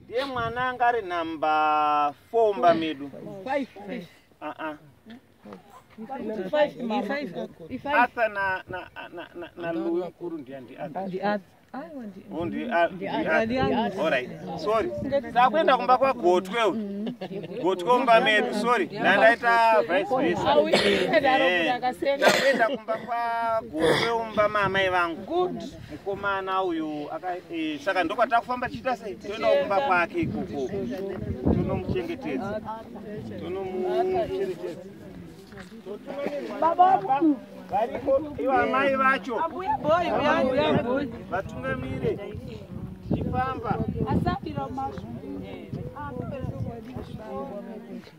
ndiye mwana anga ari namba four mba medu arthur naluwi mukuru ndiya ndiarthuright sorry takuenda kumba kwagotwe gotwe umba medu sorry ndandaita vice versa takuenda kumba kwagotwe umba maamai vangu mukomana uyu eh, saka ndokwatava kufamba tichiita sei toendawo kumba kwake ikoko tonomuchengetedza tonomuchengetedza variko ivo amai vacho vatungamire tichifamba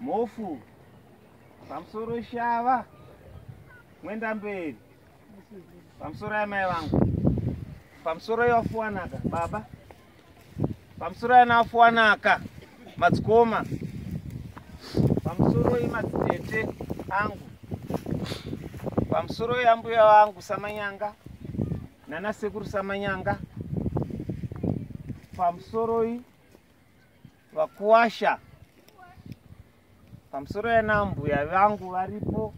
Mhofu pamusoro shava mwenda mberi pamusoro yamai vangu pamusoro yafuwanaka baba pamusoro yana afuwanaka madzikoma pamusoro yemadzitete angu pamusoro yambuya vangu samanyanga nana sekuru samanyanga pamusoroi vakuwasha pamusoro yana mbuya vangu varipo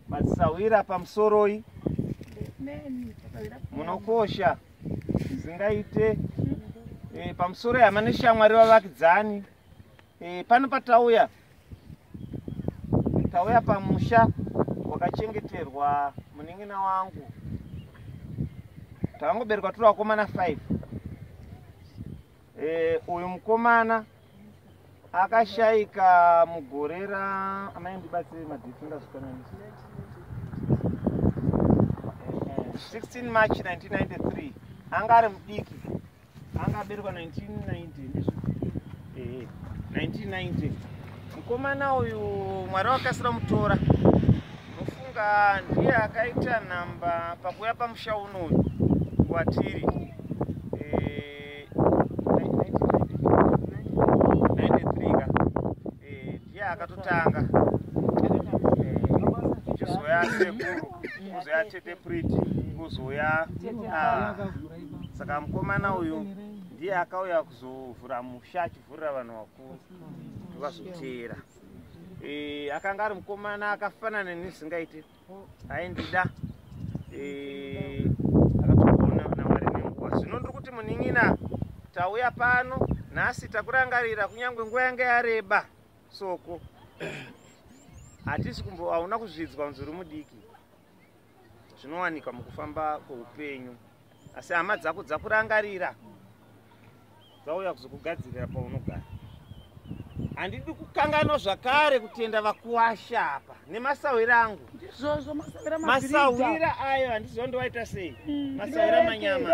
madzisahwira pamusoroi munokosha zvingaite e, pamusoro yama neshamwari vavakidzani e, pano patauya tauya pamusha wakachengeterwa munin'ina wangu takangoberekwa turi vakomana 5 Eh, uyu mukomana akashaika mugore ra amai ndibatsire madheti ndazvikananisa 16 march 1993 anga ari mudiki anga aberekwa 1990 mukomana uyu mwari wakasira mutora Ndofunga ndiye akaita nhamba pakuya pamusha unoyu watiri eh, eh, ndiye akatotanga kuzoya eh, sekuru kuzoya tete priti kuzoya ah, saka mukomana uyu ndiye akauya kuzovhura musha achivhurira vanhu vakuru vazoteera e, akanga ari mukomana akafanana nezvingaite aindida e, akatoona namwari nenguva zvino ndiri kuti munin'ina tauya pano nhasi takurangarira kunyange nguva yange yareba soko hatisi kumbo hauna kuzvidzwa muzuri mudiki zvinowanika mukufamba kweupenyu asi hama dzako dzakurangarira dzauya kuzokugadzirira paunogara handidi kukanganwa zvakare kutenda vakuwasha apa nemasawira angu ndizvozvo masawira ayo handiziva ndovaita sei hmm. masawira manyama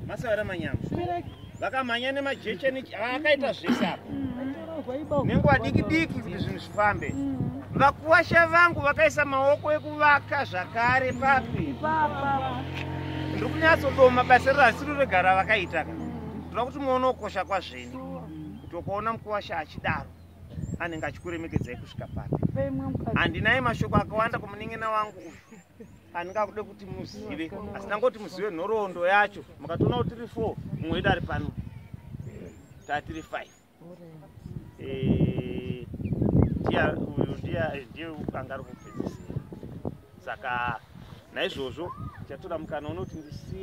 masawira manyama vakamhanya nemajecha akaita zvese apa nenguva diki diki kuti zvinhu zvifambe vakuwasha vangu vakaisa maoko ekuvaka zvakare papi ndiri kunyatsodoma basa riro hasiri regara vakaita ka ndoda kuti muone ukosha kwazveni kuti ukaona mukuwasha achidaro anenge achikuremekedzai kusvika papi handinai mashoko akawanda kumuningina wangu uyu andingakude kuti muzive asi ndangoti muzive nhoroondo yacho mukatoona kuti tiri four mumwe wedu ari pano taa tiri five eh, ndiya uyu ndiya ndiye anga ari kupedzisira saka naizvozvo chatoda mukana unoti ndisiye